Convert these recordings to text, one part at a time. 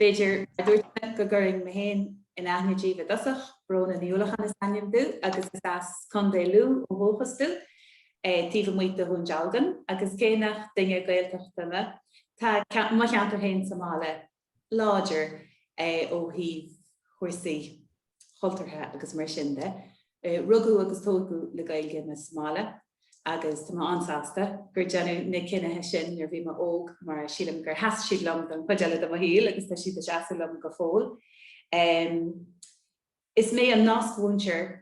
B'fhéidir, mar a dúirt mé, ah, go gcuirfinn mé féin in aithne daoibh i dtosach. Bróna Ní Uallacháin is ainm domh agus is as Contae Lú ó dhúchas domh, taobh amuigh de Dhún Dealgan, agus cé nach duine Gaeltachta mé, tá mo cheantar fhéin sa mbaile láidir ó thaobh chúrsaí. chultúrtha agus mar sin de. Rugadh agus tógadh le Gaeilge mé sa mbaile agus tá mé an-sásta gur déanadh na cinnithe sin nuair bhí mé óg mar sílim gur sheas siad liom don chuid eile de mo shaol agus tá siad ag seasamh liom go fóill. Is mé an nasc-mhúinteoir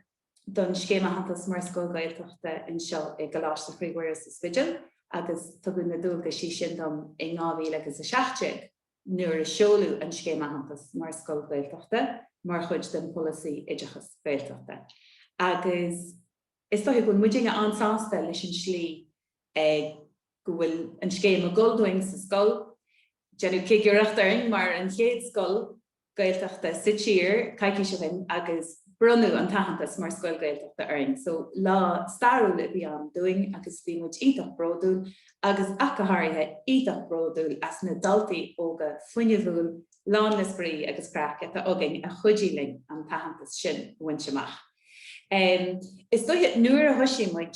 don Scéim Aitheantais mar Scoil Ghaeltachta anseo i gColáiste Chroí Mhuire sa Spidéal agus tugadh na dualgaisí sin dom in 2017. nuair a seoladh an Scéim Aitheantais mar Scoil Ghaeltachta mar chuid den Pholasaí Oideachais Gaeltachta agus is dóiche go bhfuil muidinne an-sásta leis an tslí a go bhfuil an scéim ag dul dúinn sa scoil. Déanadh cigireacht orainn mar an chéad scoil. Gaeltachta sa tír coicís ó shin agus bronnadh an t-aitheantas mar Scoil Ghaeltachta orainn. So lá stairiúil a bhí ann dúinn agus bhí muid iontach bródúil agus ach go háirithe iontach bródúil as na daltaí óga fuinneamhúil lán le spraoi agus craic atá againn a chuidigh linn an t-aitheantas sin a bhaint amach. Is dóiche nuair a thoisigh muid.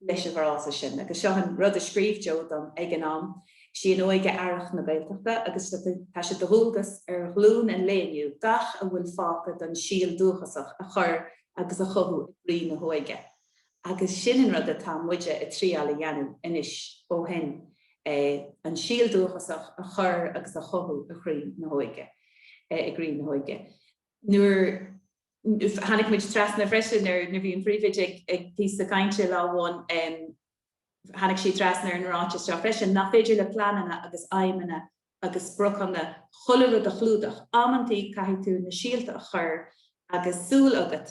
leis an bhfrása sin, agus seo an rud a scríobh Joe dom ag an am, 'Sí an óige earrach na Gaeltachta agus tá sé do dhualgas ar ghlúin an lae inniu gach a bhfuil fágtha den síol dúchasach a chur agus a chothú i gcroí na hóige agus sin an rud atá muide ag triáil a dhéanamh anois ó shin, an síol dúchasach a chur agus a chothú i chroí na hóige, i gcroí na hóige. nuair tháinig muid trasna freisin ar, nuair bhí an Phríomhoide ag ag píosa cainte lá amháin, tháinig sí trasna ar an ráiteas seo freisin, nach féidir le pleananna agus aidhmeanna agus spriocanna chuile rud a chlúdach, amantaí caithfidh tú na síolta a chur agus súil agat,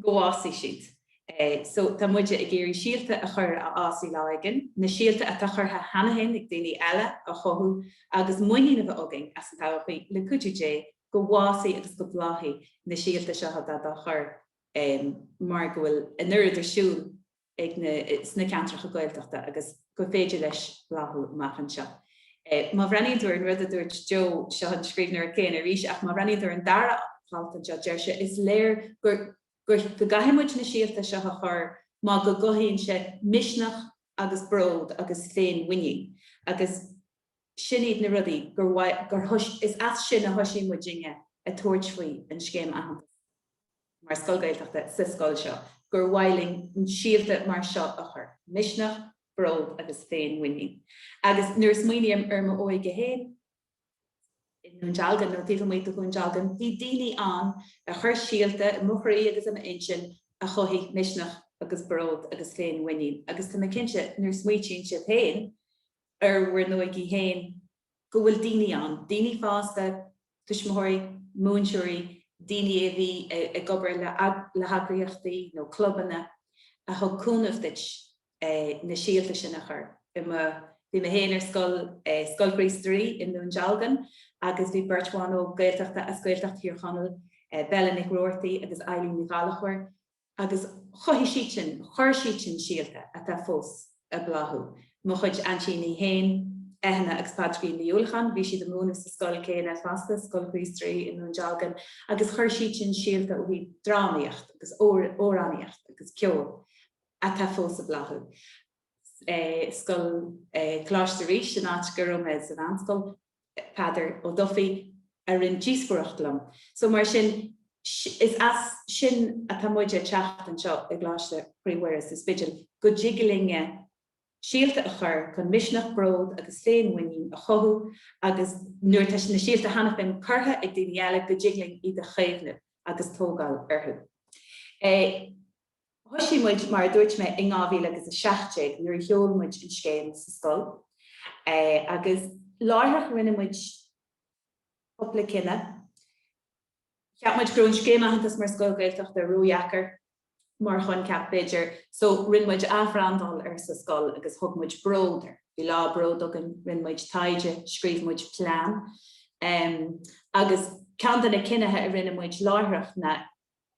go bhfásfaidh siad. So, tá muide ag iarraidh síolta a chur a fhásfaidh lá éigin, na síolta atá curtha cheana fhéin ag daoine eile a chothú agus muinín a bheith againn as an todhchaí, le cuidiú Dé, go bhfásfaidh agus go mbláthfaidh na síolta seo atá dá chur mar go bhfuil an oiread ar siúl. ag na sna ceantracha Gaeltachta agus gur féidir leis bláthú amach anseo. Má bhreathnaíonn tú ar an rud a dúirt Joe, seo an scríbhneoir céanna arís, ach má bhreathnaíonn tú ar an dara halt anseo, deir sé, is léir gur, gur, go gcaithfidh muid na síolta seo a chur mar go gcothaíonn sé misneach agus bród agus féinmhuinín agus. sin iad na rudaí gur mhaith, gur, is as sin a thoisigh muidinne ag tabhairt faoi an Scéim Aitheantais mar Scoil Ghaeltachta sa scoil seo, gur mhaith linn síolta mar seo a chur. Misneach, bród agus féin-mhuinín. Agus nuair a smaoiním ar m'óige féin i nDún Dealgan, nó taobh amuigh de Dhún Dealgan, bhí daoine ann a chuir síolta i mo chroí agus i m'intinn a chothaigh misneach agus bród agus féin-mhuinín. Agus tá mé cinnte, nuair a smaointíonn sibh féin, ar bhur n-óige féin, go bhfuil daoine ann, daoine fásta, tuismitheoirí, múinteoirí, daoine a bhí ag obair le heagraíochtaí nó clubanna, a thug cúnamh duit na síolta sin a chur. Bhí mé féin ar scoil, Scoil Chríost Rí i nDún Dealgan, agus bhí beirt bhan óg Gaeltachta as Gaeltacht Thír Chonaill, Bella Nic Robhartaigh agus Eileen Ní Ghallchóir, agus chothaigh siad sin, chuir siad sin síolta atá fós ag bláthú. Mo chuid aintíní féin, Eithne agus Pádraigín Ní Uallacháin, bhí siad ag múineadh sa scoil céanna fosta, Scoil Chríost Rí i nDún Dealgan, agus chuir siad sin síolta ó thaobh drámaíocht agus amhránaíocht agus ceol atá fós ag bláthú. Scoil Choláiste Rís, an áit go raibh mé sa mheánscoil, Peadar Ó Dufaigh, a rinne díospóireacht liom. So mar sin, is as sin atá muid ag teacht anseo i gColáiste Chroí Mhuire sa Spidéal, go dtig linne síolta a chur chun misneach, bród agus féinmhuinín a chothú agus nuair atá na síolta cheana féin curtha ag daoine eile, go dtig linn iad a chaomhnamh agus tógáil orthu. Thoisigh muid, mar a dúirt mé, in 2017 nuair a sheol muid an scéim sa scoil agus láithreach rinne muid cúpla cinneadh. Cheap muid go raibh an scéim aitheantas mar scoil Ghaeltachta ródheacair mar choincheap, b'fhéidir, so rinne muid athbhrandáil air sa scoil agus thug muid Bród air. Bhí lá Bród againn, rinne muid taighde, scríobh muid plean agus ceann de na cinnithe a rinne muid láithreach ná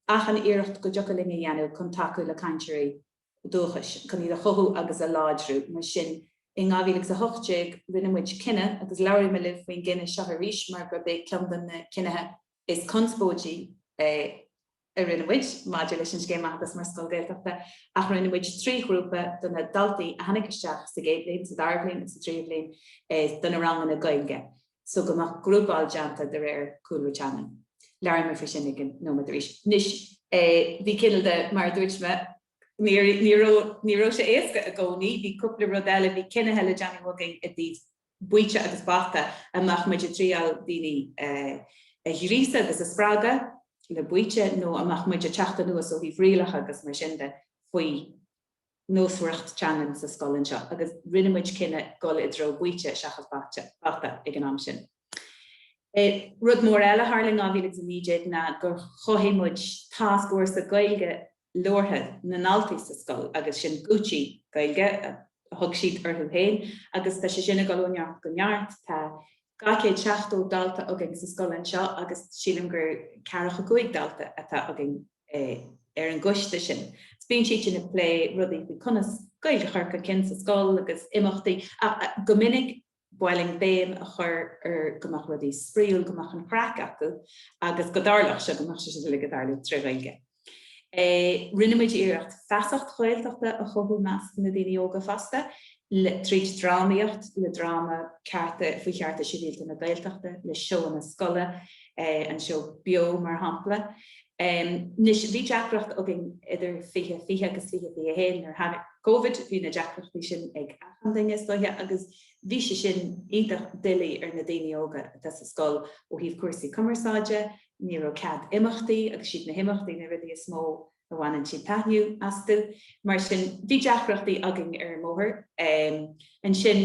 achan iarracht go dtiocfadh linn a dhéanamh chun tacú le cainteoirí dúchais, chun iad a chothú agus a láidriú. Mar sin, in 2018, rinne muid cinneadh, agus labhróidh mé libh faoin gcinneadh seo arís mar gurb é ceann de na cinnithe is conspóidí é a rinne muid maidir leis an Scéim Aitheantais mar Scoil Ghaeltachta, ach rinne muid trí ghrúpa de na daltaí a tháinig isteach sa gcéad bhliain, sa dara bhliain agus sa tríú bhliain do na ranganna Gaeilge. so go mbeadh grúpáil déanta de réir cúlra teangan. Labhróidh mé faoi sin i gceann nóiméad arís. Anois, bhí cineál de, mar a dúirt mé, ní raibh sé éasca i gcónaí, bhí cúpla rud eile, bhí cinnithe le déanamh againn i dtaobh baoite agus bata, an mbeadh muid ag triail daoine a ghríosadh agus a spreagadh le baoite nó an mbeadh muid ag teacht anuas ó thaobh rialacha agus mar sin de faoi. nósmhaireacht teangan sa scoil anseo agus rinne muid cinneadh dul i dtreo baoite seachas bata ag an am sin. Rud mór eile a tharla in 2019 ná gur chothaigh muid tascfhórsa Gaeilge labhartha na ndaltaí sa scoil agus sin Gucci Gaeilge a thug siad orthu féin agus tá sé sin ag dul ó neart go neart, tá 270 dalta againn sa scoil anseo agus sílim gur 45 dalta atá againn. ar an gcoiste sin. Bíonn siad sin ag plé rudaí faoi conas Gaeilge a chur chun cinn sa scoil agus imeachtaí go minic ba linn béim a chur ar go mbeadh rudaí spraíúil, go mbeadh an chraic acu agus go dtarlódh sé, go mbeadh sé sin uilig ag tarlú tré Ghaeilge. Rinne muid iarracht feasacht Ghaeltachta a chothú measc na daoine óga fosta. le, trí drámaíocht, le dráma cearta, faoi Chearta Sibhialta na Gaeltachta, le seóanna scoile, an seó beo mar shampla. Anois, bhí deacracht againn idir fiche fiche agus fiche fiche haon, nuair a tháinig Covid, bhí na deacrachtaí sin ag achan duine is dóiche agus bhí sé sin iontach doiligh ar na daoine óga atá sa scoil ó thaobh cúrsaí cumarsáide, ní raibh cead imeachtaí agus siad na himeachtaí na rudaí is mó a a bhaineann siad taitneamh astu. Mar sin, bhí deacrachtaí againn ar an mbóthar. Ansin,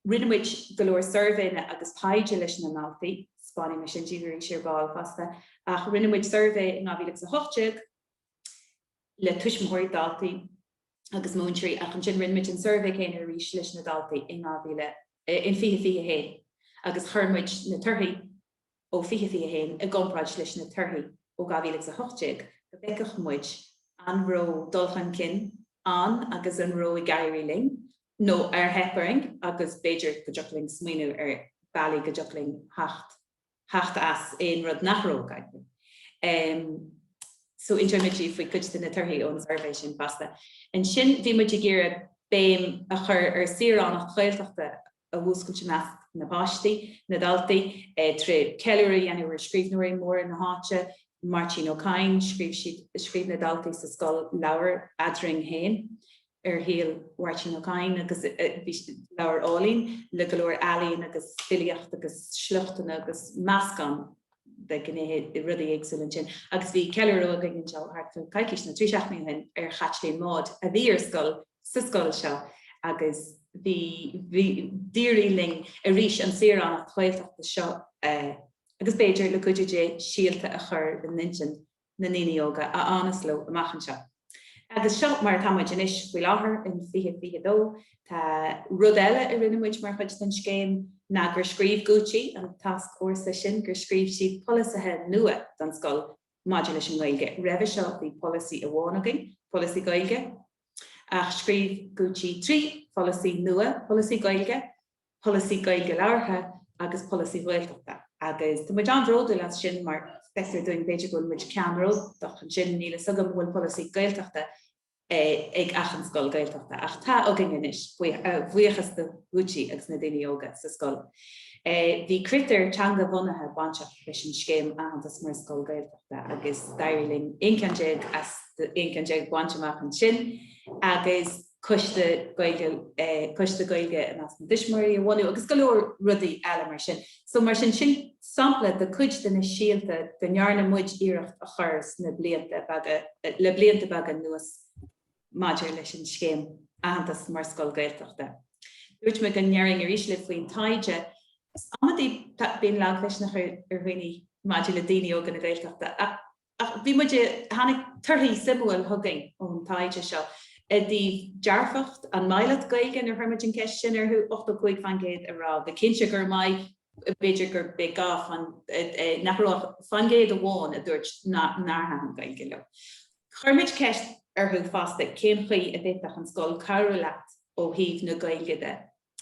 rinne muid go leor suirbhéanna agus taighde leis na daltaí, spáinfidh mé sin díbh ar ball fosta, ach rinne muid suirbhé in 2018 le tuismitheoirí, daltaí agus múinteoirí ach ansin rinne muid an suirbhé céanna arís leis na daltaí in 2021 agus chuir muid na torthaí ó 2021 i gcomparáid leis na torthaí ó 2018, go bhfeicfeadh muid an raibh dul chun cinn ann agus an raibh ag éirí linn nó ar theip orainn agus b'fhéidir go dtiocfadh linn smaoineamh ar bhealaí go dtiocfadh linn theacht as aon rud nach raibh ag éirí. So inseoidh muid faoi cuid de na torthaí ón suirbhé sin fosta. Ansin bhí muid ag iarraidh béim a chur ar saoránacht Ghaeltachta a mhúscailt i measc na bpáistí, na ndaltaí, trí cheiliúradh a dhéanamh ar scríbhneoirí móra na háite, Máirtín Ó Cadhain, scríobh siad, scríobh na daltaí sa scoil leabhar Eadrainn Féin ar shaol Mháirtín Ó Cadhain agus bhí leabhar álainn le go leor ealaíon agus filíocht agus sliochtanna agus meascán de ghnéithe de rudaí éagsúla ansin. Agus bhí ceiliúradh againn anseo thart fá coicís nó trí seachtaine ó shin ar Chaitlín Maude a bhí ar scoil sa scoil seo agus bhí bhí d'éirigh linn arís an saoránacht Ghaeltachta seo a agus b'fhéidir, le cuidiú Dé, síolta a chur i n-intinn na ndaoine óga a fhanas leo amach anseo. Agus seo mar atá muid anois faoi láthair in 2022. Rud eile a rinne muid mar chuid den scéim ná gur scríobh Gucci, an tasc ársa sin, gur scríobh siad polasaithe nua don scoil maidir leis an nGaeilge. Roimhe seo bhí polasaí amháin againn, polasaí Gaeilge, ach scríobh Gucci trí pholasaí nua, polasaí Gaeilge, polasaí Gaeilge labhartha agus polasaí Gaeltachta agus tá muid an-bhródúil as sin mar feictear dúinn, b'fhéidir, go bhfuil muid ceannródaíoch ansin. Níl fhios agam an bhfuil polasaí Gaeltachta ag achan scoil Gaeltachta ach tá againn anois, a bhuíochas do Gucci agus na daoine óga sa scoil. Bhí critéir teanga-bhunaithe bainteach leis an scéim aitheantas mar scoil Gaeltachta agus d'éirigh linn 11 ceann as 11 ceann a bhaint amach ansin agus, coiste Gaeilge i measc na dtuismitheoirí a bhunú agus go leor rudaí eile mar sin. So mar sin, sin sampla de cuid de na síolta go ndearna muid iarracht a chur sna blianta beaga, le blianta beaga anuas maidir leis an scéim aitheantas mar scoil Gaeltachta. Dúirt mé go ndéarfainn arís libh faoin taighde. Amantaí bíonn lagmhisneach ar dhaoine maidir le daoine óga na Gaeltachta. Ach bhí muid i. Tháinig torthaí suimiúil chugainn ón taighde seo i dtaobh dearfacht an maith leat Gaeilge nuair chuir muid an ceist sin orthu, 85 fán gcéad a rá go cinnte gur maith, b'fhéidir gurbh ea, agus nach raibh ach fán gcéad amháin a dúirt nár thaitin Gaeilge leo. Chuir muid ceist orthu fosta cén chaoi a bhféadfadh an scoil cabhrú leat ó thaobh na Gaeilge de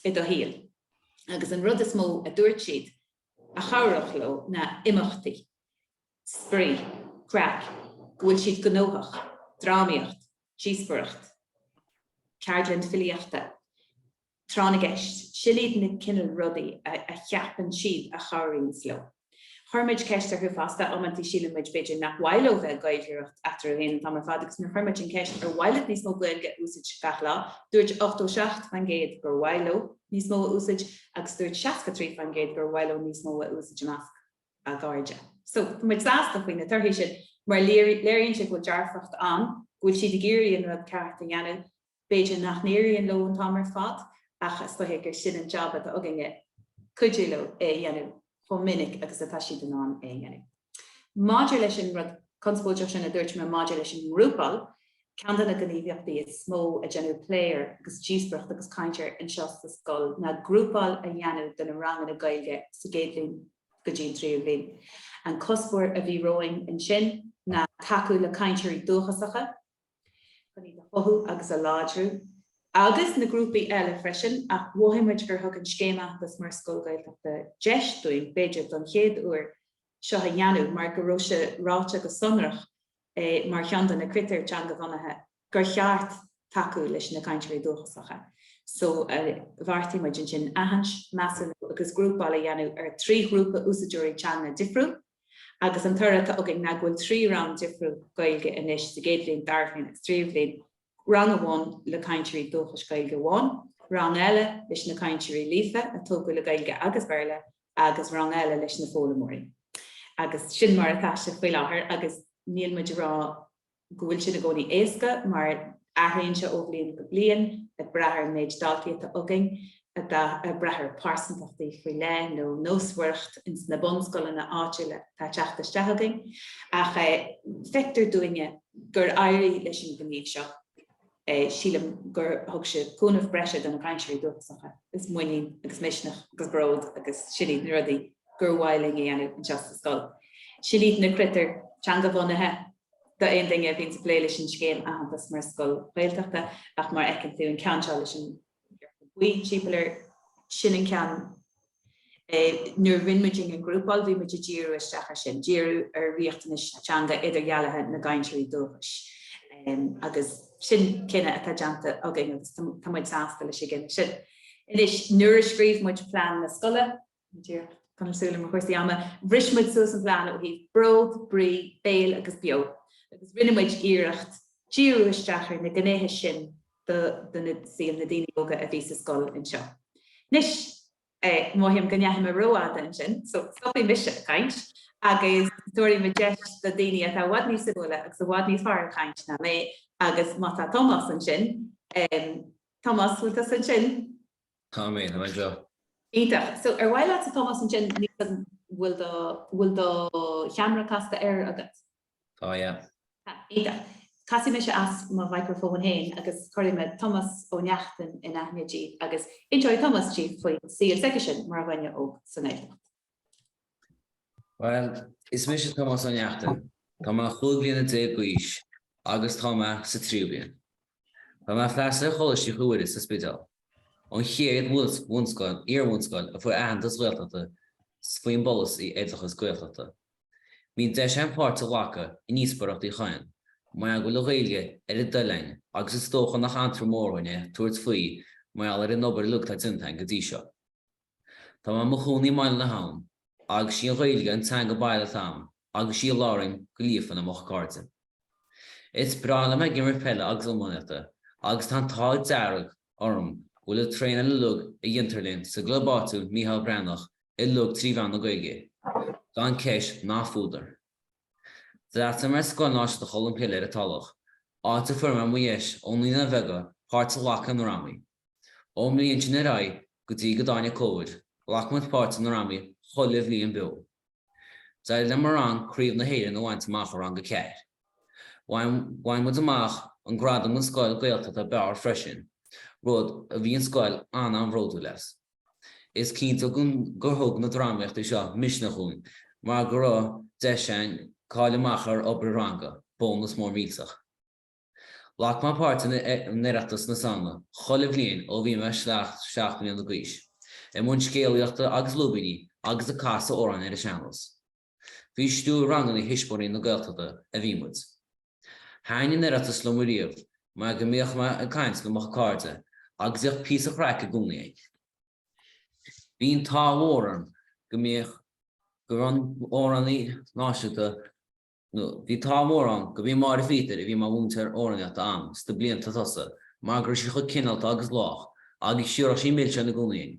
i do shaol agus an rud is mó a dúirt siad a chabhródh leo ná imeachtaí. spraoi, craic, go bhfuil siad gnóthach, drámaíocht, díospoireacht, ceardlann filíochta, tráth na gceist, sin iad na cineál rudaí a cheapann siad a chabhraíonns leo. Chuir muid ceist orthu fosta, amantaí síleann muid b'fhéidir nach mhaith leo bheith ag gaeilgeoireacht eatarthu fhéin an t-am ar fad agus nuair chuir muid an ceist ar mhaith leat níos mó Gaeilge a úsáid gach lá, dúirt 87% gur mhaith leo níos mó a úsáid agus dúirt 63% gur mhaith leo níos mó a úsáid i measc. a gcairde. So, tá muid sásta faoi na torthaí sin mar léiríonn sé go bhfuil dearfacht ann, go bhfuil siad ag iarraidh an rud ceart a dhéanamh. B'fhéidir nach n-éiríonn leo an t-am ar fad ach is dóigh gur sin an jab atá againne, cuidiú leo é a dhéanamh chomh minic agus atá siad in ann é a dhéanamh. Maidir leis an rud conspóideach sin a dúirt mé maidir leis an ngrúpáil, Ceann de na gníomhaíochtaí is mó a deineadh plé air agus díospóireacht agus caint air anseo sa scoil ná grúpáil a dhéanamh de na ranganna Gaeilge sa gcéad bhliain go dtí an tríú bhliain. An cuspóir a bhí romhainn ansin ná tacú le cainteoirí dúchasacha chun iad a chothú agus a láidriú, agus na grúpaí eile freisin, ach mhothaigh muid gur thug an Scéim Aitheantais mar Scoil Ghaeltachta deis dúinn, b'fhéidir don chéad uair, seo a dhéanamh mar go raibh sé ráite go sonrach mar cheann de na critéir teanga-bhunaithe gur cheart tacú leis na cainteoirí dúchasacha so bheartaigh muid ansin aithint, measúnú agus grúpáil a dhéanamh ar thrí ghrúpa úsáideoirí teanga difriúil agus an toradh atá againn ná go bhfuil trí rang difriúil Gaeilge anois sa gcéad bhliain, dara bhliain agus tríú bhliain. rang amháin le cainteoirí dúchais Gaeilge amháin, rang eile leis na cainteoirí líofa a tógadh le Gaeilge agus Béarla agus rang eile leis na foghlaimeoirí. Agus sin mar atá sé faoi láthair agus níl muid ag rá go bhfuil sin i gcónaí éasca mar athraíonn sé ó bhliain go bliain ag brath ar an méid daltaí atá againn. ag brath ar pearsantachtaí faoi leith nó nósmhaireacht ins na bunscoileanna áitiúla atá ag teacht isteach chugainn ach feictear dúinne gur éirigh leis an ngníomh seo. Sílim gur thug sé cúnamh breise do na cainteoirí dúchasacha agus muinín agus misneach agus bród agus sin iad na rudaí gur mhaith linn a dhéanamh anseo sa scoil. Sin iad na critéir teangabhunaithe d'aon duine a bhíonns ag plé leis an scéim aitheantais mar scoil Ghaeltachta ach mar a fheiceann tú an ceann seo leis an buí timpeall air, sin an ceann. Nuair a rinne muidinne an ghrúpáil, bhí muid ag díriú isteach air sin, díriú ar riachtanais teanga idirdhealaithe na gcainteoirí dúchais agus sin cinneadh atá déanta againn agus tá muid sásta leis an gcinneadh sin. Anois, nuair a scríobh muid plean na scoile, Ní díreach. Tá mé ag súil le mo chúrsaí ama. Bhris muid suas an phlean ó thaobh bród, brí, béal agus beo agus rinne muid iarracht díriú isteach ar na gnéithe sin de saol na daoine óga a bhí sa scoil anseo. Anois, mothaím go ndeachaigh mé rófhada ansin, so stopfaidh mise ag caint agus tabharfaidh mé deis do daoine atá i bhfad níos suimiúla agus i bhfad níos fearr ag caint ná mé agus má tá Tomás ansin, Tomás, bhfuil tusa ansin? Tá mé tá mé anseo. Iontach! So ar mhaith leatsa Tomás ansin an bhfuil do bhfuil do cheamara casta air agat? Tá, yeah. Tá, iontach. Casfaidh mise as mo mhicreafón féin agus cuirfidh mé Tomás Ó Neachtain in aithne daoibh agus inseoidh Tomás daoibh faoin saol s'aigesean mar dhuine óg san Ghaeltacht. Bhuel, is mise Tomás Ó Neachtain. Tá mé chúig bhliana déag d'aois agus tá mé sa tríú bliain. Tá mé ag freastal ar Choláiste Chroí Mhuire sa Spidéal, an chéad bhunscoil, iar-bhunscoil a fuair aitheantas Ghaeltachta faoin bpolasaí oideachas Gaeltachta. Bhí deis agam páirt a ghlacadh i ndíospóireacht Uí Chadhain, mar go bhfuil an Ghaeilge ar a dtoil againn agus is dócha nach anró mór dhúinn é tabhairt faoi mar gheall ar an obair uilig atá déanta againn go dtí seo. Tá mé i mo chónaí i mBaile na hAbhann agus sí an Ghaeilge an teanga baile atá agam agus sí a labhraím go líofa le mo chairde. Is breá liom ag imirt peile agus iománaíochta agus tá an t-ádh dearg orm go bhfuil an traenáil uilig a dhéantar linn sa gclub áitiúil Micheál Breathnach uilig trí mheán na Gaeilge, gan ceist ná fuadar. D'fhreastail mé ar Scoil Náisiúnta Cholm Cille ar an Tulach, áit a fuair mé mo dheis ó naíonáin bheaga páirt a ghlacadh i ndrámaí. Ón mbliain sin ar aghaidh, go dtí go dtáinig Covid, ghlac muid páirt i ndrámaí chuile bhliain beo. D'éirigh le mo rang Craobh na hÉireann a bhaint amach i rang a ceathair. Bhain muid amach an gradam don scoil Gaeltachta ab fhearr freisin, rud a bhí an scoil an-an-bhródúil as. Is cinnte gur thug na drámaíochtaí seo misneach dhúinn mar go raibh deis againn cailleadh amach ar obair ranga, bónas mór millteach. Ghlac mé páirt in Oireachtas na Samhna chuile bhliain ó bhí mé seacht mbliana d'aois, i mbun scéalaíochta agus lúibíní agus ag casadh amhráin ar an sean-nós. Faoi stiúir ranganna Thuismitheoirí na Gaeltachta a bhí muid. Thaitin an tOireachtas liom riamh mar go mbíodh mé ag caint le mo chuid cairde agus bhíodh píosa craic i gcónaí againn. Bhí an t-ádh mór orm go mbíodh go raibh an amhránaí náisiúnta bhí an t-ádh mór orm gurb í Máire Phíotair a bhí mar mhúinteoir amhránaíochta agam sna blianta tosaigh mar go raibh sí chomh cineálta agus lách agus thiúrfadh sí milseáin i gcónaí dhúinn.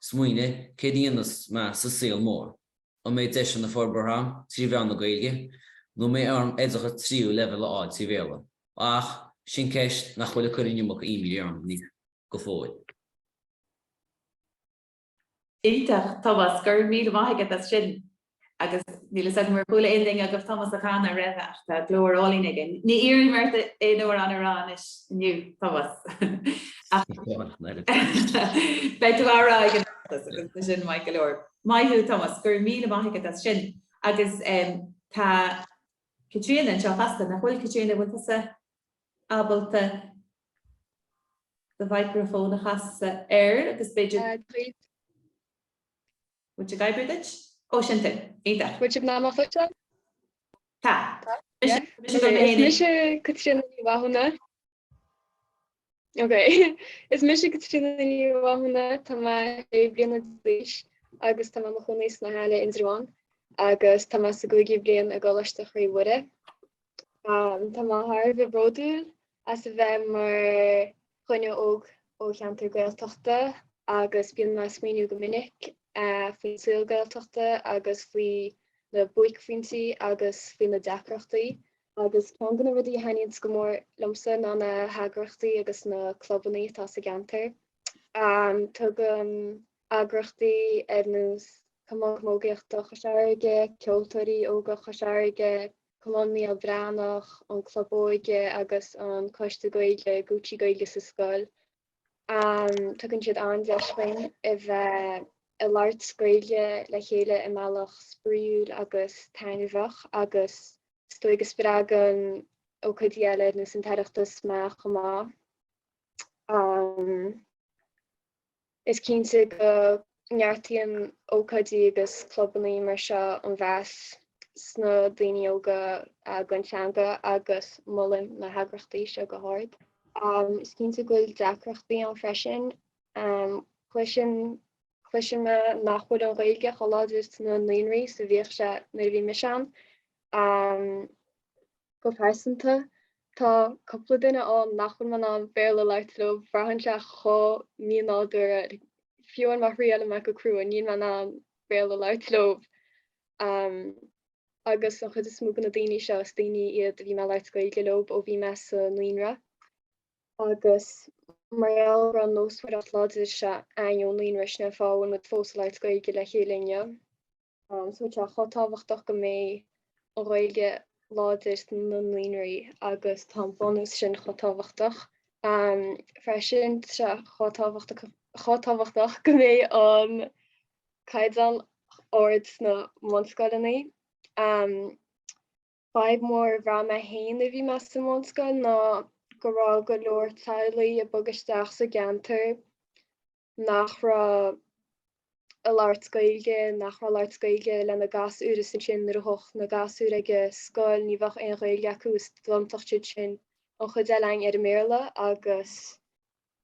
Smaoiním, céard a dhéanfas mé sa saol mór? An mbeidh deiseanna forbartha agam trí mheán na Gaeilge? Nó an mbeidh orm oideachas tríú leibhéal a fháil trí Bhéarla? Ach, sin ceist nach bhfuil ag cur an iomarca imní orm go fóill. Iontach, Tomás. Go raibh míle maith agat as sin. agus níl fhios agam ar chuala aon duine agaibh Tomás ag canadh roimhe ach tá glór álainn aige. Ní iarrfaidh mé ort aon amhrán a rá anois inniu, Tomás, beidh tú a rá agus sin maith go leor. Maith thú Tomás, go raibh míle maith agat as sin agus tá Caitríona anseo fosta, nach bhfuil, Caitríona, bhfuil tusa ábalta do mhicreafón a chasadh air agus b'fhéidir. Muid ag oibriú duit. Ó, sin tú. Iontach. Muid ag meanmach duit, John. Tá. Tá? Mise, mise Caitríona Ní Mhathúna. Ok. Is mise Caitríona Ní Mhathúna, tá mé sé bliana déag d'aois agus tá mé i mo chónaí sna hAille Indreabhán agus tá mé sa gcúigiú bliain i gColáiste Chroí Mhuire. Am, Tá mé thar a bheith bródúil as a bheith mar dhuine óg ó cheantar Gaeltachta agus bíonn mé ag smaoiniú go minic faoin saol Gaeltachta agus faoi na buaicphointí agus faoi na deacrachtaí. Agus ceann de na rudaí a thaitníonns go mór liomsa ná na heagraíochtaí agus na clubannaí atá sa gceantar. Tugann eagraíochtaí ar nós Cumann Camógaíochta Chois Fharraige, Ceoltóirí Óga Chois Fharraige, Cumann Mícheál Breathnach, an Club Óige agus an Coiste Gaeilge, Gucci Gaeilge sa Scoil. Tugann siad an-deis dhúinn a bheith ag labhairt Gaeilge le chéile i mbealach spraíúil agus taitneamhach agus is dóigh go spreagann ócáidí eile ar nós an tOireachtas mé chomh maith. Is cinnte go neartaíonn ócáidí agus clubannaí mar seo an mheas sna daoine óga don teanga agus molaim na heagraíochtaí seo go hard. Is cinnte go bhfuil deacrachtaí ann freisin. Cloiseann mé nach bhfuil an Ghaeilge chomh láidir sna naíonraí is a bhíodh sé nuair a bhí mise ann. Go pearsanta, tá cúpla duine ann nach bhfuil mé in ann Béarla a labhairt leo, braitheann sé chomh mínádúrtha, fiú má thriaileann mé, go crua, níl mé in ann Béarla a labhairt leo. Agus an chuid is mó de na daoine seo, is daoine iad a bhí mé ag labhairt Gaeilge leo ó bhí mé sa naíonra. Agus mar gheall ar an nósmhaireacht láidir seo againn ón naíonra, sin an fáth a bhfuil muid fós ag labhairt Gaeilge le chéile inniu. So tá sé chomh tábhachtach go mbeidh an Ghaeilge láidir sna naíonraí agus tá an bunús sin chomh tábhachtach. Freisin tá sé chomh tábhachtach go mbeidh an caighdeán ard sna mbunscoileanna. Fadhb mhór a bhraith mé féin nuair a bhí mé sa mbunscoil ná go raibh go leor teaghlaigh ag bogadh isteach sa gceantar nach raibh a labhairt Gaeilge, nach raibh ag labhairt Gaeilge lena ngasúir is ansin nuair a thagadh na gasúir ag an scoil ní bheadh aon Ghaeilge acu is d'iontódh siad sin an chuid eile againn ar an mBéarla agus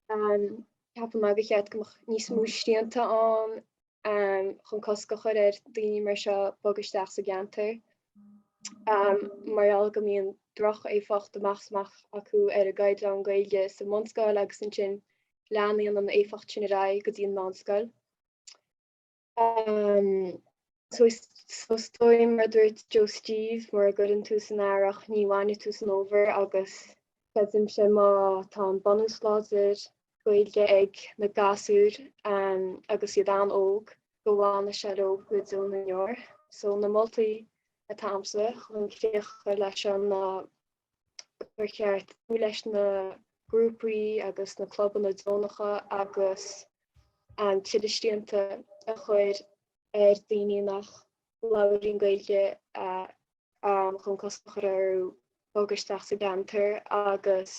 ceapann mé gur cheart go mbeadh níos mó srianta ann chun cosc a chur ar dhaoine mar seo bog isteach sa gceantar mar gheall go mbíonn droch-éifeacht amach 's amach acu ar an gcaighdeán Gaeilge sa mbunscoil agus ansin leanann an éifeacht sin ar aghaidh go dtí an meánscoil. So is dóigh mar a dúirt Joe Steve, mura gcuireann tú san earrach ní bhainfidh tú san fhómhar agus creidimse má tá an bunús láidir Gaeilge ag na gasúir agus iad an-óg go bhfanfaidh sé leo go deo na ndeor. So na moltaí atá agamsa chun críoch a chur leis an ná gur cheart cúnamh leis na grúpaí agus na clubanna deonacha agus tuilleadh srianta a chur ar daoine nach labhraíonn Gaeilge chun cosc a chur orthu bogadh isteach sa gceantar agus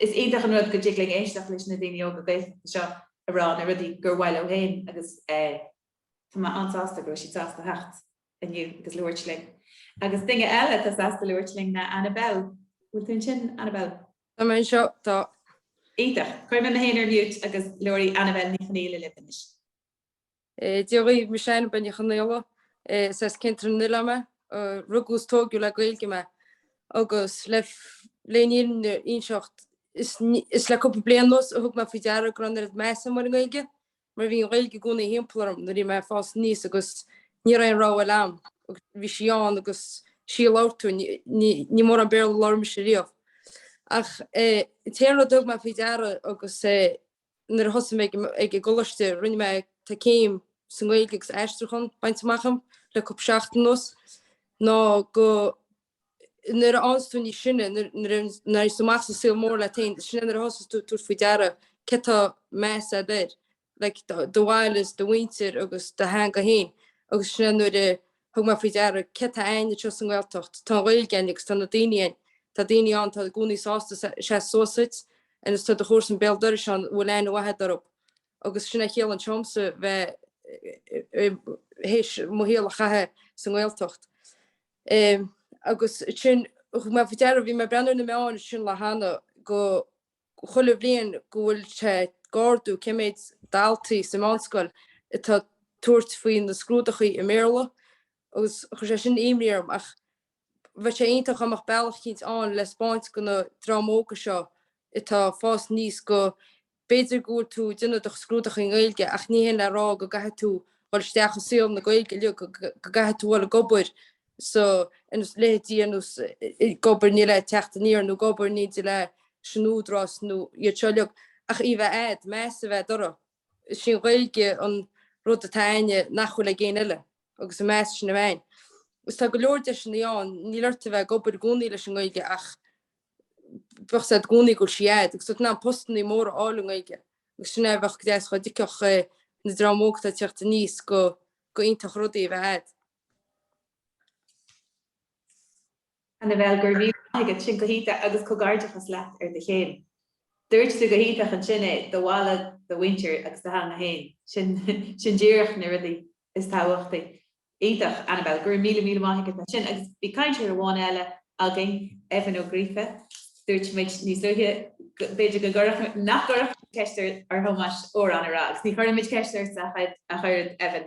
Is iontach an rud go dtig linn éisteacht leis na daoine óga Gaeltachta seo ag rá na rudaí gur mhaith leo féin agus tá mé an-sásta go raibh siad sásta theacht inniu agus labhairt linn. Agus duine eile atá sásta labhairt linn ná Annabel. Bhfuil tú ansin, Annabel? Tá mé anseo, tá. Iontach. Cuirfidh mé mé féin ar mute agus labharfaidh Annabel Ní Chonaola libh anois. Dia dhaoibh, mise Annabel Ní Chonaola. Is as Ceantar na nOileán mé. Rugadh is tóigeadh le Gaeilge mé agus le leis an fhírinne a inseacht is le cúpla bliain anuas a thug mé faoi deara go raibh an oiread measa agam ar an nGaeilge mar bhí an Ghaeilge i gcónaí thimpeall orm nuair a bhí mé ag fás aníos agus ní raibh aon rogha eile ann. Bhí sí ann agus is í a labhair tú. Ní mórán Béarla a labhair mise riamh. Ach an t-aon rud a thug mé faoi deara agus nuair a thosaigh mé ag an gcoláiste, rinne mé tá céim sa nGaeilge agus aistriúchán bainte amach agam le cúpla seachtain anuas, ná go nuair a fhaigheanns tú níos sine, nuair a éiríonns tú amach sa saol mór leat féin, sin é nuair a thosaíonns tú ag tabhairt faoi deara céard atá meas agat air, like do bhaile is do mhuintir agus do theanga féin agus sin é nuair a Thug mé faoi deara céard atá againn anseo sa nGaeltacht. Tá an Ghaeilge againn agus tá na daoine againn. Tá daoine ann atá i gcónaí sásta seasamh suas duit agus tá do chomharsan béal dorais ann a bhfuil aithne mhaith agat orthu. Agus sin a chiallaíonn sé domsa bheith théis mo shaol a chaitheamh sa nGaeltacht. Agus ansin thug mé faoi deara, bhí mé ag breathnú ar na meáin ansin an lá cheana, go chuile bhliain go bhfuil sé ag ardú cé méid daltaí sa mheánscoil atá ag tabhairt faoi na scrúduithe i mBéarla agus chuir sé sin imní orm ach bheadh sé iontach dá mbeadh bealach eicínt ann le 'spáint go na dream óga seo atá ag fás aníos go b'fhéidir go bhfuil tú ag déanamh do scrúduithe i nGaeilge ach ní shin le rá go gcaithfidh tú dhul isteach i saol na Gaeilge uilig go gcaithfidh tú dhul ag obair so, ins leithéidí ar nós ag obair ní le Teacht Aniar nó ag obair ní leis an Údarás nó iad seo uilig ach í a bheith a'd, meas a bheith a'd uirthi. Is í an Ghaeilge an rud atá a'inne nach bhfuil ag éinne eile, agus an meas sin a bheith ann. Is tá go leor deiseannaí ann, níl ort a bheith ag obair i gcónaí leis an nGaeilge ach beidh sé a'd i gcónaí go bhfuil sí a'd, agus tá tú in ann postannaí móra a fháil i nGaeilge, agus sin é a bheadh go deas dhá dtuigfeadh na dream óg atá ag teacht aníos go gur iontach an rud í a bheith a'd. Annabel, Go raibh míle maith agat. Sin go hiontach agus comhgairdeachas leat ar do chéim. Dúirt tú go hiontach ansin é, do bhaile, do mhuintir agus do theanga féin. Sin, sin díreach na rudaí is tábhachtaí. Iontach, Annabel. Go raibh míle míle maith agat as sin. Agus bhí cainteoir amháin eile againn, Evan Ó Gríofa. Dúirt muid níos luaithe go, b'fhéidir go gcuirfeadh, nach gcuirfeadh muid ceist ar, ar Thomás amhrán a rá agus ní chuirfidh muid ceist ort ach oiread, ach oiread, Evan.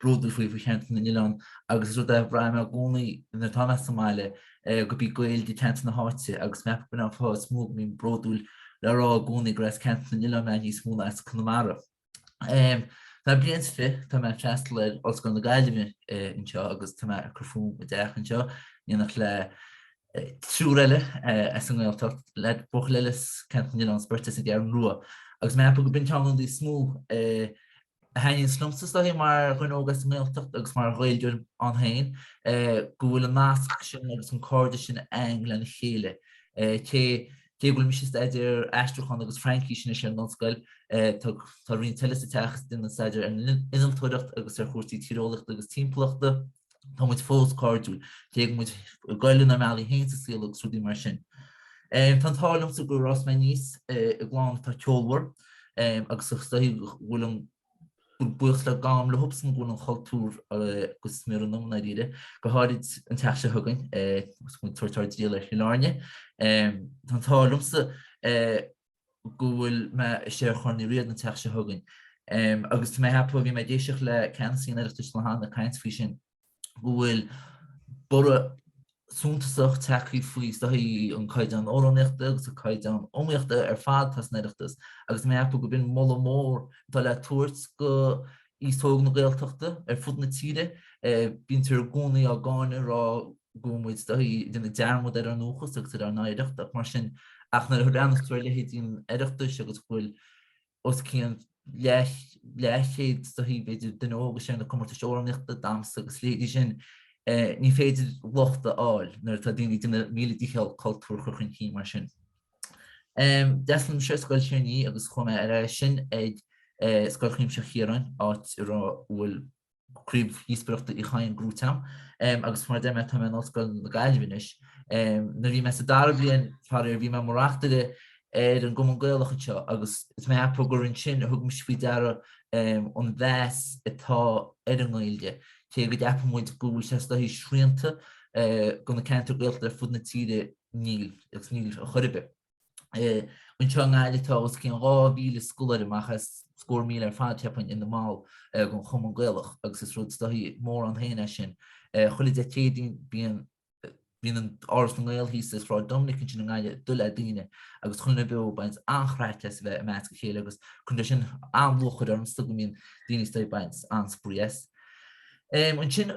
bródúil faoi faoi cheantar na n-oileán agus is rud é a bhraith mé i gcónaí nuair atá mé sa mbaile gurb í Gaeilge teanga na háite agus mé ag ceapadh gurb in an fáth is mó go mbím bródúil le rá i gcónaí gur as ceantar na n-oileán mé níos mó ná as Conamara. Tá mé bliain is fiche, tá mé ag freastal ar Ollscoil na Gaillimhe anseo agus tá mé ag cur fúm i dteach anseo in éineacht le triúr eile as an nGaeltacht, le buachaill eile as ceantar na n-oileán is beirt as an gCeathrú Rua agus mé ag ceapadh gurb in ceann de na rudaí is mó a thaitníonns liomsa is dóichí mar dhuine óg as an nGaeltacht agus mar Ghaeilgeoir ann féin, go bhfuil an nasc sin agus an cairdeas sin a'inn lena chéile. Cé cé go bhfuil mise ag staidéar aistriúcháin agus Fraincis anois ar an ollscoil, tá roinnt eile sa teach is iad ag déanamh staidéar ar an innealtóireacht agus ar chúrsaí tíreolaíochta agus timpeallachta. Tá muid fós cairdiúil. Cé go bhfuil muid ag goil inár mbealaí féin sa saol agus rudaí mar sin. Tá an t-ádh liomsa gur fhás mé aníos i gclann atá ceolmhar agus is dóichí go bhfuil an buíochas le gabháil leobsan go bhfuil an cultúr go smior ionam dáiríre, go háirid an tseachtain seo chugainn agus muid ag tabhairt ár dtriall ar Chill Airne. Tá an t-ádh liomsa. go bhfuil mé istigh ar Chorn Uí Riada an tseachtain seo chugainn. Agus tá mé ag ceapadh, bhí mé ag éisteacht le ceannasaí an Oireachtais an lá cheana ag caint faoi sin, go bhfuil borradh suntasach tagtha faoi is dóichí an caighdeán amhránaíochta agus an caighdeán iomaíochta ar fad atá san Oireachtas. Agus tá mé ag ceapadh gurb in moladh mór atá le tabhairt go aos óg na Gaeltachta ar fud na tíre. Bíonntar i gcónaí á gcáineadh, rá go bhfuil muid is dóichí ag déanamh dearmad ar ár ndúchas agus ar ár n-oidhreacht mar sin ach nuair a bhreathnaíonns tú ar leithéidí an Oireachtais agus go bhfuil os cionn leathchéad is dóichí b'fhéidir duine óg ins na comórtais amhránaíochta damhsa agus leithéidí sin ní féidir locht a fháil nuair atá daoine ag déanamh a míle dícheall cultúr a chur chun cinn mar sin. D'fhreastail mise ar Scoil Thír an Fhia agus chuaigh mé ar aghaidh ansin ag Scoil Chuimsitheach Chiaráin áit a raibh a bhfuil Craobh Dhíospóireachta Uí Chadhain gnóthaithe agam agus mar a deir mé tá mé in Ollscoil na Gaillimhe anois. Nuair a bhí mé sa dara bliain faraor bhí mé mar reachtaire ar an gCumann Gaelach anseo agus is mé ag ceapadh gur ansin a thug mise faoi deara an mheas atá ar an nGaeilge, cé go gceapann muid go bhfuil sé is dóichí srianta do na ceantair Gaeltachta ar fud na tíre níl agus níl ar chor ar bith. Anseo i nGaillimh tá os cionn 2,000 scoláire amach as scór míle ar fad cheapfainn ina mball den Chumann Gaelach agus is rud is dóichí mór ann féin é sin. Chuile Dé Céadaoin bíonn bíonn an Áras na nGael thíos i Sráid Dominic ansin i nGaillimh dubh le daoine agus chuile dhuine beo ag baint an-chraic as a bheith i measc a chéile agus cuireann sé sin an-lúcháir orm is dóigh go mbíonn daoine is dóigh ag baint an-spraoi as. Ansin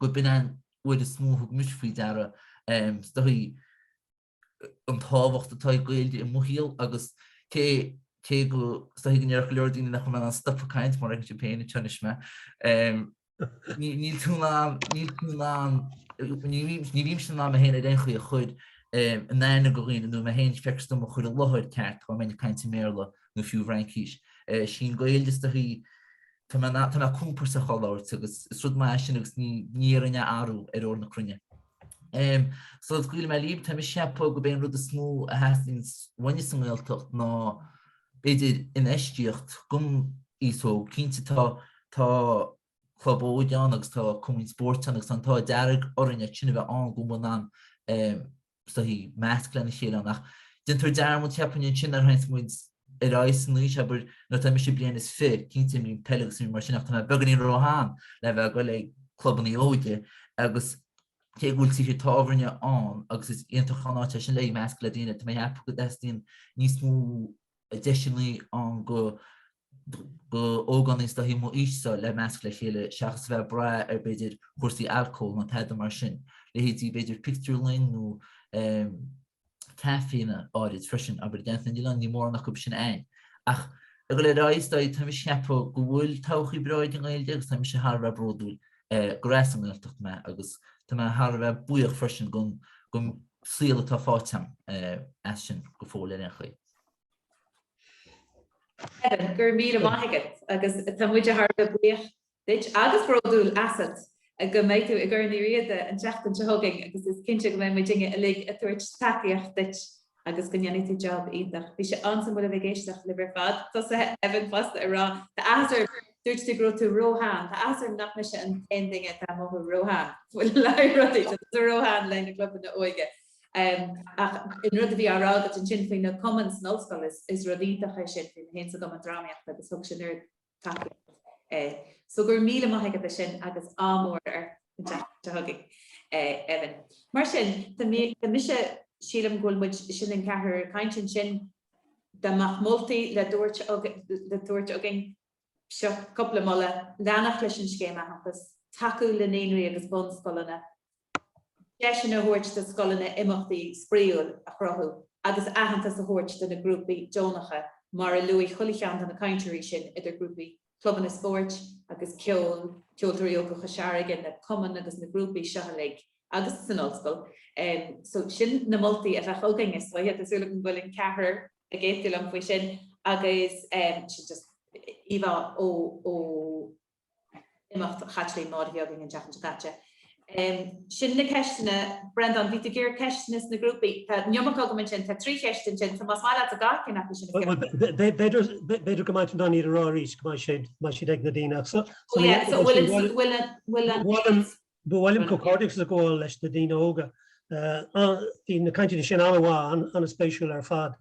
gurb in an uair is mó a thug mise faoi deara is dóichí an tábhacht atá ag Gaeilge i mo shaol agus cé cé is dóichí go ndéarfadh go leor daoine nach bhfuil mé in ann stopadh ag caint mar fheiceann siad féin an tsean is mé níl tú in ann níl tú in ann ní ní bhímse in ann mé féin ar aon chaoi a chur in aithne do dhaoine nó mé féin feictear dom a chur i láthair ceart tá mé ag caint i mBéarla nó fiú i bhFraincís sí an Ghaeilge is dóichí atá mé, tá mé compordach á labhairt agus is rud maith é sin agus ní, ní iarrfainn é a athrú ar ór na cruinne. Em, sula scaoilfidh mé libh, tá mé ag ceapadh gurb é an rud is mó a theastaíonn uainne sa nGaeltacht ná, b'fhéidir, infheistíocht, do m'aois-se, cinnte tá, tá club óige ann agus tá cumainn spóirt ann agus tá an t-ádh dearg orainn é sin a bheith ann go mba in ann, em, is dóichí meascadh lena chéile ann. Ach déantar dearmad, cheapfainn, ansin nuair a théanns muid ar aghaidh san aois, abair, nuair atá mise bliain is fiche, cinnte imrím peil agus rud mar sin ach tá mé beagáinín ró-shean le bheith ag dul ag clubannaí óige agus cé go bhfuil tithe tábhairne ann agus is iontach an áit é sin le meascadh le daoine, tá mé ag ceapadh go dteastaíonn níos mó deiseanna ann d'ógánaigh is dóichí m'aois-se le meascadh le chéile seachas a bheith ag brath ar b'fhéidir chúrsaí alcóil nó tada mar sin, leithéidí b'fhéidir pictiúrlann nó caiféanna áirid freisin, abair, i gCeantar na nOileán, níl mórán acu sin againn. Ach i gcur le rá is dóigh, tá mé ag ceapadh go bhfuil todhchaí breá ag an nGaeilge agus tá mise thar a bheith bródúil gurb as an nGaeltacht mé agus tá mé thar a bheith buíoch freisin den saol atá faighte agam as sin go fóill ar aon chaoi. Kevin, go raibh míle maith agat agus tá muid thar a bheith buíoch duit agus bródúil asat go mbeidh tú i gCorn Uí Riada an tseachtain seo chugainn agus is cinnte go mbeidh muidinne uilig ag tabhairt tacaíocht duit agus go ndéanfaidh tú job iontach. Bhí sé an-suimiúil a bheith ag éisteacht libh ar fad. Tá's agat Evan fosta ag rá Tá áthas orm, dúirt tú go raibh tú ró-shean, tá áthas orm nach mise an t-aon duine atá i mo ró-shean. Bhfuil a fhios agat, dúradh, tá tú ró-shean le na clubanna óige. Ach an rud a bhí á rá agat ansin faoi na cumainn san ollscoil, is rud iontach é sin, bhí mé féin sa gcumann drámaíochta agus thug sin oiread tacaíocht. So go raibh míle maith agat as sin agus ádh mór ort an tseachtain seo chugainn, Evan. Mar sin, tá mise, sílim go bhfuil muid, sin an ceathrar ag caint ansin, dá mbeadh moltaí le tabhairt againn, Seo cúpla moladh, leanacht leis an Scéim Aitheantais, tacú le naíonraí agus bunscoileanna, deiseanna a thabhairt do scoileanna imeachtaí spraíúil a chruthú agus aitheantas a thabhairt do na grúpaí deonacha, mar a luaigh chuile cheann de na cainteoirí sin, idir ghrúpaí clubanna spóirt agus ceoil, Ceoltóirí Óga Chois Fharraige, na cumainn agus na grúpaí seo uilig. agus san ollscoil. So sin na moltaí a bheadh againn is uaithi, tá súil agam go bhfuil an ceathrar ag aontú liom faoi sin agus sin just íomhá ó imeacht Chaitlín Maude a bhí againn an tseachtain seo caite. Sin na ceisteanna. Breandán, bhí tú ag iarraidh ceisteanna sna grúpaí. Tá iomarca agam ansin, tá trí cheist ansin, so más maith leat a dhul go dtí ceann acu sin a cheapadh. B'fhéidir go maith duit iad a rá arís go mbeidh siad ag na daoine ach so. Ó yeah, so bhfuil an. Ba mhaith liom comhghairdeachas a ghabháil leis na daoine óga. Bhí na cainteanna sin an-mhaith, an-spéisiúil ar fad.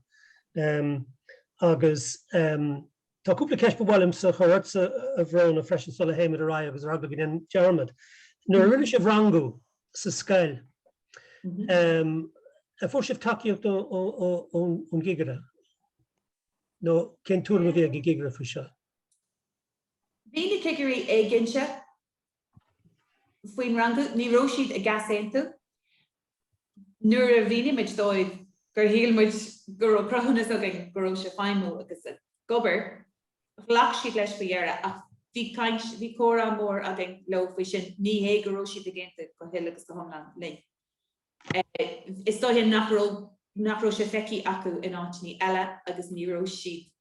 Agus tá cúpla ceist ba mhaith liomsa a chur ortsa, a Bhróna, freisin sula théimid ar aghaidh agus ar eagla go ndéanfainn dearmad. Nuair a rinne sibh rangú sa scoil, an bhfuair sibh tacaíocht ón gcigire? Nó cén tuairim a bhí ag an gcigire faoi seo? Bhí na cigirí éiginnte. faoin rangú, ní raibh siad ag easaontú nuair a mhínigh muid dóibh gur shíl muid go raibh cruthúnas againn go raibh sé ag feidhmiú agus ag obair. Ghlac siad leis faoi dheireadh ach bhí caint, bhí comhrá mór againn leo faoi sin, ní hé go raibh siad ag aontú go huile agus go hiomlán linn. Is dóiche nach raibh sé feicthe acu in áiteannaí eile agus ní raibh siad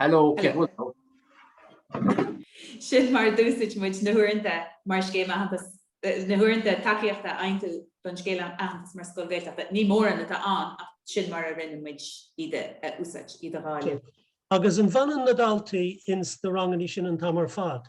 Hello. Sin mar a d'úsáid muid na huaireanta mar scéim aitheantas, na huaireanta tacaíochta a fhaightear don scéim aitheantas mar scoil Gaeltachta. Ní mórán atá ann ach sin mar a rinne muid iad a úsáid, iad a dháileadh. Agus an bhfanann na daltaí ins na ranganna sin an t-am ar fad?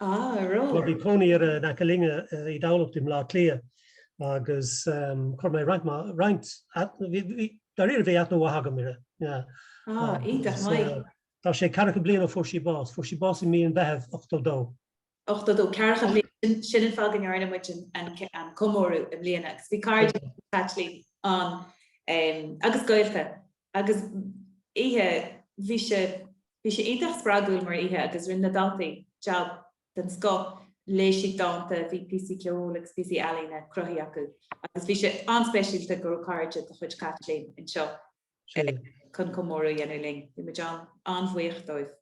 Ah, ó bhí cónaí uirre in aice linne i dTamhlacht i mBleá Cliath agus chuir mé roinnt ma, roinnt, bhí, dairíre bhí aithne mhaith agam uirre, yeah. Ah, iontach maith. Tá sé ceathracha bliain ó fuair sí bás. Fuair sí bás i mí an Mheithimh 82. 82, ceathracha bliain, sin an fáth go ndearna muid an comóradh i mbliana agus bhí cairde Caitlín ann agus gaolta Agus oíche, bhí sé, bhí sé iontach spreagúil mar oíche agus rinne na daltaí jab den scoth, léigh siad dánta, bhí píosaí ceoil agus píosaí ealaíne cruthaithe acu agus bhí sé an-speisialta go raibh cairde de chuid Chaitlín anseo chun comóradh a dhéanamh linn. Bhí muid an-bhuíoch dóibh.